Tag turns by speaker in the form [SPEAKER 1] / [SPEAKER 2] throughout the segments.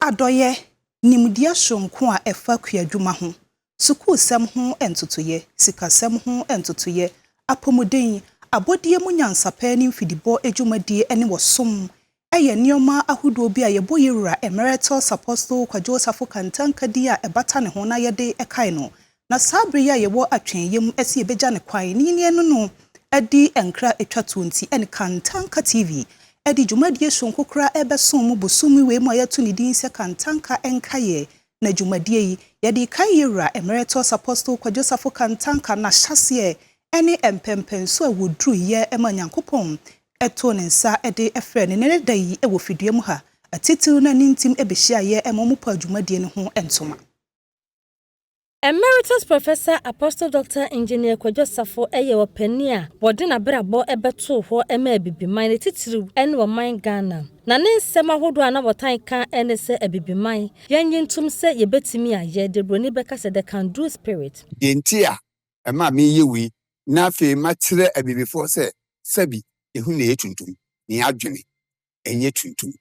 [SPEAKER 1] Adɔeɛ, Nimdeɛ soronko a ɛfa kuadwuma ho, sukuusɛm ho ntotoeɛ, sikasɛm ho ntotoeɛ, apɔmuden, abɔdeɛ mu nyansapɛ ne mfidibɔ adwumadie ne ɔsom yɛ nneɛma ahodoɔ bi a yɛbɔ yɛn Wura Emeritus Apostle Kwadwo Osafo Kantanka din a ɛbata ne ho na yɛde kae no Na saa bere yi a yɛwɔ atwenyɛ mu se yɛbɛgya no kwan ne nyini ɛno no adi nkra ɛtwa toɔ nti ɛne Kantanka TV ɛde dwumadie sononko koraa ɛrebɛso mo bosome wei mu a yɛato ne din sɛ Kantanka Nkaeɛ Na dwumadie yi yɛde rekae Yɛwura Emeritus Apostle Kwadwo Safo Kantanka n'ahyɛaseɛ ɛne mpɛnpɛnsoɔ a wɔduruiɛ ma Nyankopɔn too ne nsa de frɛɛ no nnɛ da yi wɔ fidua mu ha atitiriw na ne ntim bɛhyiaeɛ ma wɔpaa dwumadie no ho ntoma. Emeritus
[SPEAKER 2] Professor Apostle Doctor Engineer Kwadwo Asafo yɛ ɔpanyin a wɔde n'abrabɔ bɛtoo hɔ ma Abibiman ne titiriw ne ɔman Ghana. Na ne nsɛm ahodoɔ a na wɔtan ka ne sɛ Abibiman, yɛn nnye ntom sɛ yɛbɛtumi ayɛ, deɛ buroni bɛka sɛ the can do spirit. Deɛ nti a
[SPEAKER 3] ɛma meyɛ wei na afei makyerɛ Abibifoɔ sɛ sɛbi ehu na ɛyɛ tuntum, ne adwene nyɛ tuntum.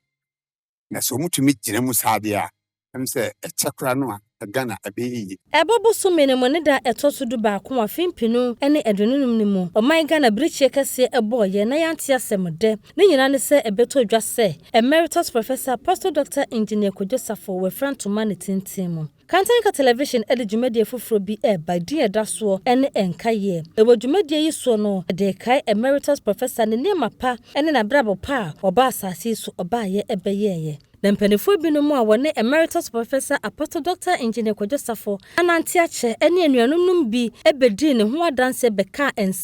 [SPEAKER 3] Na sɛ wɔtumi gyina mu saa deɛ a, ɛm sɛ ɛkyɛ koraa no a, Ghana ɛbɛyɛ yie. Ɛbɔ bosome no mu
[SPEAKER 2] ne da a ɛtɔ so du baako afe mpenu ne aduonunum no mu, ɔman Ghana birikyeɛ kɛseɛ ɛbɔɔ yɛn na yɛante asɛm dɛ. Ne nyinaa ne sɛ ɛbɛtɔ dwa sɛ Emeritus Professor Apostle Doctor Engineer Kojo Safo wafira ntoma ne tintin mu. Kantanka Television de dwumadie foforɔ bi reba, edin a ɛda soɔ ne Nkaeɛ. Ɛwɔ dwumadie yi soɔ no, yɛde rekae Emeritus Professor ne nneɛma pa ne n'abrabɔ pa a ɔbaa asase yi so ɔbaeɛ bɛyɛeɛ. Na mpaninfoɔ binom a wɔne Emeritus Professor Apostle Doctor Engineer Kwadwo Safo anante akyɛ ne anuanom nom bi bɛdii ne ho adanseɛ bɛkaa nsɛm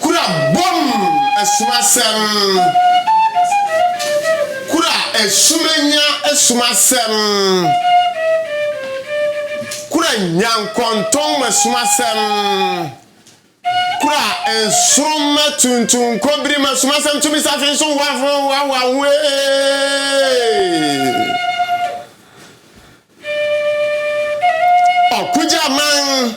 [SPEAKER 4] Kura bom som asɛm Kura asumenya som asɛm Kura nyankɔntɔnma som asɛm Kura nsoromma tuntum nkɔbirima som asɛm Tumi safe nso hoahoa hoahoa ho ee Ɔko gyaman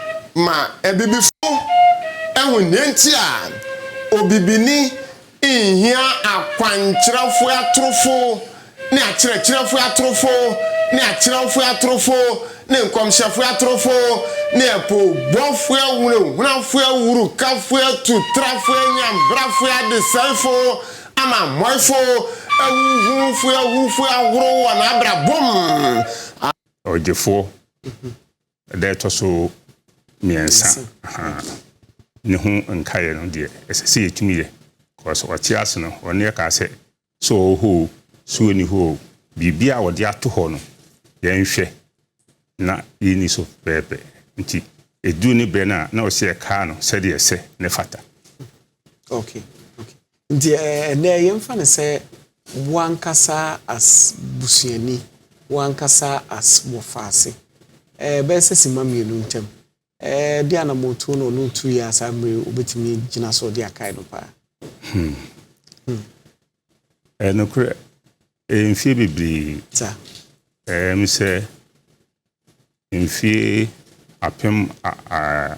[SPEAKER 4] ma abibifo ahu nea enti a obibini nhia akwankyerɛfo atorofo ne akyerɛkyerɛfo atorofo ne akyerɛwfo atorofo ne nkɔmhyɛfo atorofo ne apoobɔfo ahunahunafo awurukafo atutrafo anyanbrafo adesɛefo amammɔefo ahuhufo ahufo ahorow wɔ n'abrabɔ mu. Ɔgyefo
[SPEAKER 5] ɛda ɛtɔ so mmiɛnsa ne ho nkaeɛ no deɛ ɛsɛ sɛ yɛtumi yɛ kɔs ɔte ase no ɔne ɛkaa sɛ sɛ ɔwɔ hɔ o sɛ ɔni hɔ o biribi a wɔde ato hɔ no yɛnhwɛ na yɛni so pɛɛpɛ nti ɛduru ne berɛ no a na ɔsɛ ɛkaa no sɛdeɛ ɛsɛ ne fata
[SPEAKER 6] okay okay Nti ɛnɛ yɛmfa no sɛ wo ankasa as busuani, wo ankasa as Wɔfaase, ɛɛ bɛyɛ sɛ simma mmienu ntam, ɛɛ de anamɔtuo na ɔno retuiɛ a saa mmere wobɛtumi gyina so de akae no paa? Hmm. Hmm.
[SPEAKER 5] Ɛyɛ nokorɛ, ɛyɛ mfie bebree. Sa.
[SPEAKER 6] Ɛyɛ me
[SPEAKER 5] sɛ mfie apem a, a,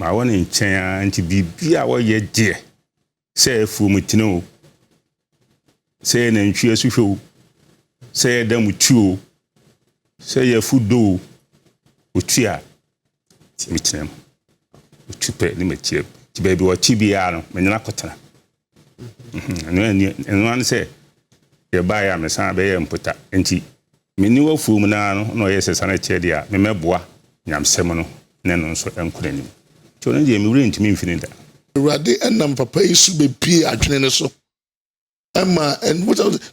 [SPEAKER 5] Mawɔ ne nkyɛn ara nti biribiara a ɔyɛ deɛ, sɛ ɛyɛ afuomutene o, sɛ ɛyɛ nantwie asuhwɛ o, sɛ ɛyɛ damuti o, sɛ ɛyɛ afudo o, ɔtu a, nti metena mu. Ɔtu pɛ ne matia mu. Nti baabi a ɔte biara no, me ne no akɔtena. ɛno ɛni ɛno ano sɛ yɛbaeɛ a mesan bɛyɛ mpota nti mene wafuo mu naa no na ɔyɛ sɛ sane kyerɛ deɛ a memɛboa nyamsɛm no ne no nso nkɔ n'anim nti ɔno deɛ mewerɛ ntumi mfini da Awurade nam
[SPEAKER 7] papa yi so bɛpie adwene no so ɛma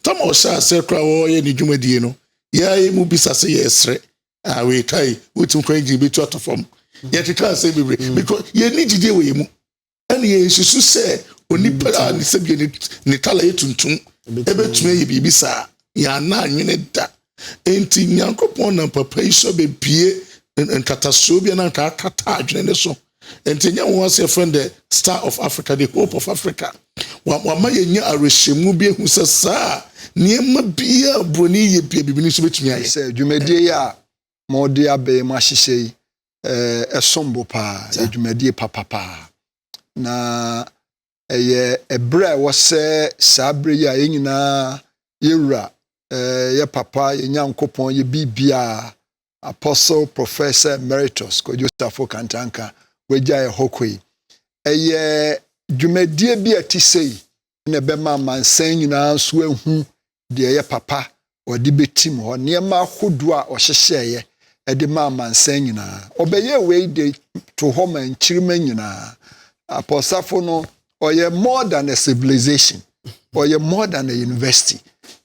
[SPEAKER 7] tama ɔhyɛ aseɛ koraa wɔyɛ ne dwumadie no yɛayɛ mu bisa sɛ yɛsrɛ a wɔɛkae wotumi kwan gyina bɛtu atɔ fam yɛkeka asɛm bebree because yɛni gyidie wɔ yɛ mu ɛna yɛnsusu sɛ onipa a ne sɛbie ne tala yɛ tuntum ɛbɛtumi ayɛ biribi saa yɛana anwene da nti nyankopɔn nam papa yi so bɛbie nkatasoɔ bi na ntaa kata adwene ne so nti ɛnyɛ nwa sɛ friend the star of africa the hope of africa wama yɛnya awerɛhyɛmu bi ahu sɛ saa nneɛma biaa buroni yɛ bia bibini nso bɛtumi ayɛ sɛ dwumadie yi a
[SPEAKER 8] ma ɔde abɛɛ mu ahyehyɛ yi eh, ɛsom bo paa yɛ dwumadie papa paa na ɛyɛ eh, ɛberɛ a ɛwɔ sɛ saa berɛ yi a yɛn nyinaa yɛwura eh, yɛ papa yɛ nyankopɔn yɛ biribiaa apostle professor emeritus kwadwo safo kantanka wagya yɛ hɔ kɔ yi ɛyɛ dwumadie bi a ɛte sɛ yi na ɛbɛma amansan nyinaa nso ahu deɛ ɛyɛ papa ɔde bɛtim hɔ nneɛma ahodoɔ a ɔhyehyɛeɛ ɛde ma amansan nyinaa ɔbɛyɛ wei de to hɔ ma nkyirima nyinaa apɔsafo no ɔyɛ more than a civilization ɔyɛ more than a university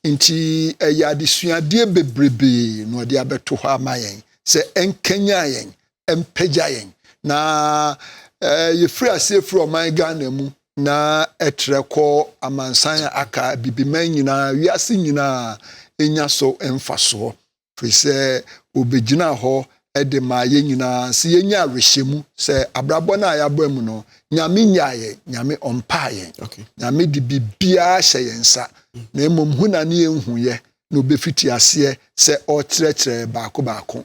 [SPEAKER 8] nti ɛyɛ adesuadeɛ bebrebee na ɔde abɛto hɔ ama yɛn sɛ ɛnkanyan yɛn mpagya yɛn na yɛfiri aseɛ firi ɔman ghana mu na ɛtrɛ kɔ amansan a aka bibiman nyinaa wiase nyinaa ɛnya so mfasoɔ firi sɛ wɔbɛgyina hɔ de ma yɛn nyinaa sɛ yɛnya awerɛhyɛmu sɛ abrabɔ no a yɛabɔ mu no nyame nyaa yɛn nyame ɔmpaa yɛn nyame de biribiaa hyɛ yɛn nsa na mmom hu na ne yɛnhuyɛ na ɔbɛfiti aseɛ sɛ ɔkyerɛkyerɛ baako baako